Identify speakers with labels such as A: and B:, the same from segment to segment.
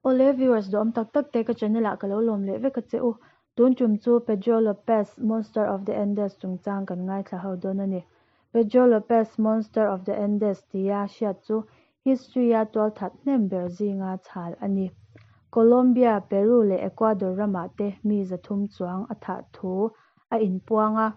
A: Awle viewers duhawm tak tak te ka channel ah ka lo lawm leh vek a che u. Tun tum chu Pedro Lopez Monster of the Andes chung chang kan ngaithla ho dawn a ni. Pedro Lopez Monster of the Andes tia hriat chu history a tual that hnem ber zinga chhal a ni. Colombia, Peru leh Ecuador ramah te mi za thum chuang a thah thu a in puang a.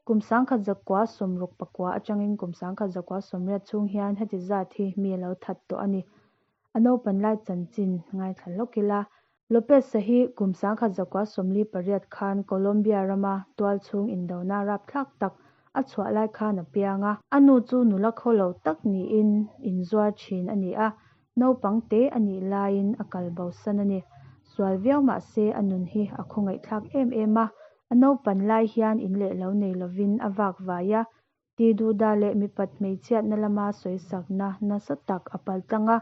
A: Kum sangkhat zakua sawm ruk pakua atangin kum sangkhat zakua sawmriat chhung hian heti zat hi mi a lo that tawh a ni. A naupan lai chanchin ngaithla hlawk ila. Lopez-a hi kum sangkhat zakua sawmli pariat khan Colombia rama tual chhung indona rapthlak tak a chhuah lai khan a piang a. A nu chu nula kho lo tak niin inzuar thin a ni a, naupang te a nih laiin a kal bosan a ni. Sual viau mah se a nun hi a khaw ngaihthlak em em a, a naupan lai hian in leh lo nei lovin a vak vai a, ti duh dah leh mipat hmeichhiatna lama sawisakna nasa tak a pal tlang a,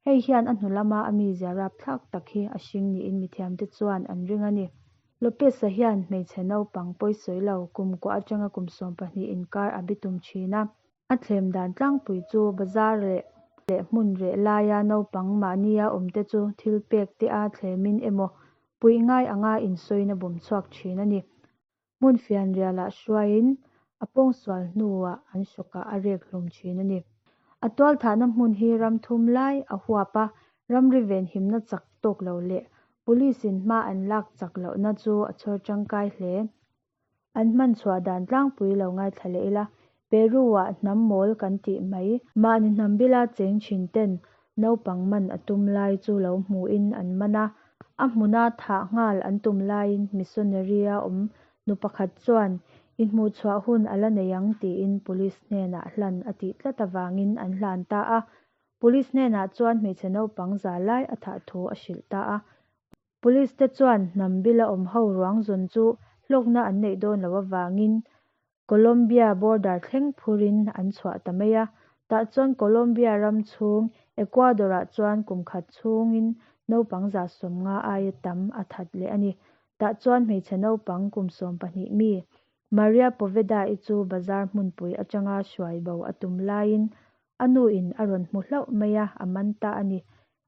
A: hei hian a hnu lama a mi zia rap thlak tak hi a hring niin mithiamte chuan an ring a ni. Lopez-a hian hmeichhe naupang pawi sawi lo kum kuah atanga kum sawm pahnih inkar a bi tum thin a. A thlem dan tlangpui chu bazar leh leh hmun reh laia naupang mahnia awmte chu thil pek te a thlemin emaw puih ngai anga insawina bawm chhuak thin a ni. hmun fianriah lah hruaiin a pawngsual hnuah an sawkah a rek hlum thin a ni. A tualthahna hmun hi ram thum lai a huap a, ram rivenhimna chak tawk loh leh police in hma an lak chak lohna chu a chhawr tangkai hle. An hman chhuah dan tlangpui lo ngaithla leh ila, Peru-ah hnam mawl kan tih mai. Mahni hnambila cheng thin ten naupang man a tum lai chu lo hmuhin an man a, a hmuna thah nghal an tum laiin missionary a awm nu pakhat chuan I hmuhchhuah hun a la nei ang tiin police hnenah hlan a tih tlat avangin an hlan ta a. Police hnenah chuan hmeichhe naupang za lai a thah thu a hrilh ta a. Police te chuan hnambila awm ho ruang zawn chu hlawkna an neih dawn lo avangin Colombia border thleng phur in an chhuah ta mai a, tah chuan Colombia ram chhung Ecuador ah chuan kum khat chhung in naupang za sawm nga aia tam a that leh a ni. Tah chuan hmeichhe naupang kum sawm pahnih mi Maria Poveda i chu bazar hmunpui atanga hruai bo a tum lai in a nu in a rawn hmu hlauh mai a, a man ta a ni.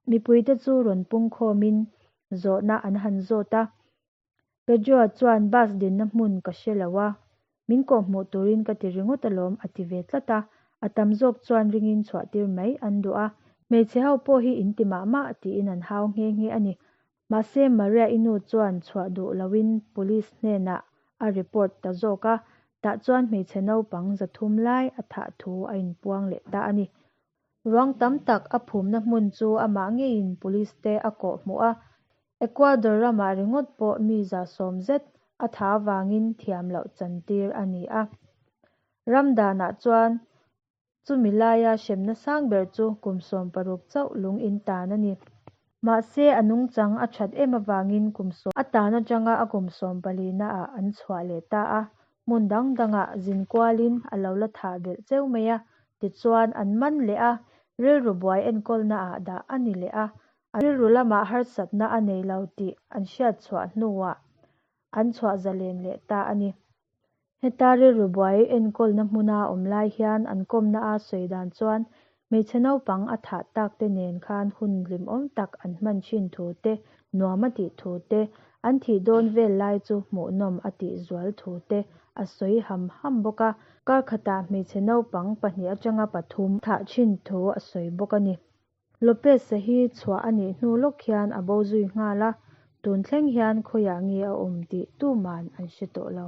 A: Mipui te chu rawn pungkhawm in zawhna an han zawt a, Pedro-a chuan, Bus dinna hmun ka hre lo a, min kawh hmuh turin ka ti ringawt alawm, a ti ve tlat a. A tam zawk chuan ringin chhuahtir mai an duh a. Hmeichhe ho pawh hi in ti mah mah tiin an hau nghe nghe a ni. Mahse, Maria i nu chuan chhuah duh loin police hnenah a report ta zawk a, tah chuan hmeichhe naupang zathum lai a thah thu a inpuang leh ta a ni. Ruang tam tak a phumna hmun chu amah ngeiin police te a kawh hmu a. Ecuador ramah ringawt pawh mi zah sawm zet a tha avangin thiam loh chantir a ni a. Ram danah chuan chumi laia hremna sang ber chu kum sawm paruk chauh lung in tan a ni. Mahse, a nungchang a that em avangin kum sawm a tan atanga a kum sawm palina ah an chhuah leh ta a, hmun dang dangah zin kualin a lo la thah belh cheu mai a, tichuan an man leh a rilru buai enkawlna ah dah a ni leh a, a rilru lamah harsatna a nei lo tih an hriat chhuah hnuah an chhuah zalen leh ta a ni. Heta rilru buai enkawlna hmuna awm lai hian an kawmna a sawi dan chuan hmeichhe naupang a thah takte nen khan hun hlimawm tak an hman thin thu te, nuam a tih thu te, an thih dawn vel lai chu hmuhnawm a tih zual thu te a sawi ham ham bawk a. Kar khatah hmeichhe naupang pahnih atanga pathum thah thin thu a sawi bawk a ni. Lopez-a hi chhuah a nih hnu lawk hian a bo zui nghal a, tun thleng hian khawiah nge a awm tih tuman an hre tawh lo.